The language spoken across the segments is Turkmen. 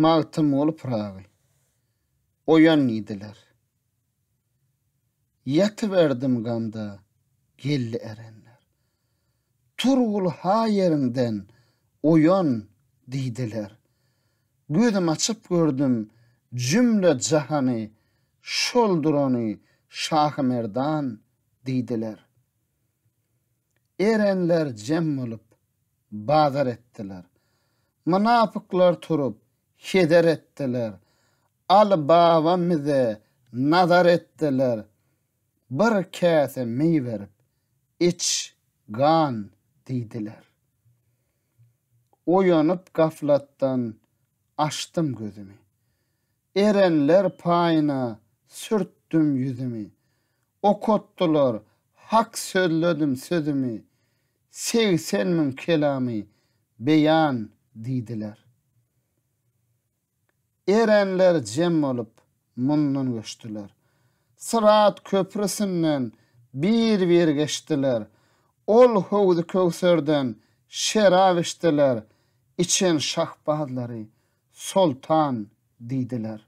Magtymguly Pyragy. Oýan diýdiler. Ýatyberdim gamda, geldi erenler. Turgul ha ýeriňden oýan diýdiler. Gözüm açyp gördüm jümle jahany, şol durany Şahymerdan diýdiler. Erenler jem bolup, bazar etdiler. Mynapyklar turup, heder etdiler. Aly baba mize nazar etdiler. Bir käse meý berip, iç, gan, diýdiler. Oýanyp gaflatdan, açdym gözümi. Erenler paýyna sürtdüm ýüzümi. Okatdylar hak sözledim sözümi, Segsen müň kelamy beýan diýdiler. Erenler jem bolup mundan göçdiler. Syrat köprüsinden bir-bir geçdiler. Ol Howzy-Köwserden şerap içdiler, Içen şahbazlary Soltan diýdiler.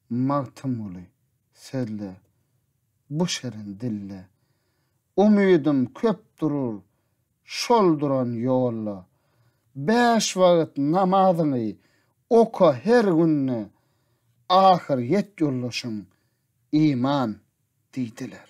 Magtymguly sözle, bu şirin dille. Umydym köp durur şol duran ýolda. Bäş wagt namazyňy oka her günde, Ahyr ýet ýoldaşyň, iman diýdiler.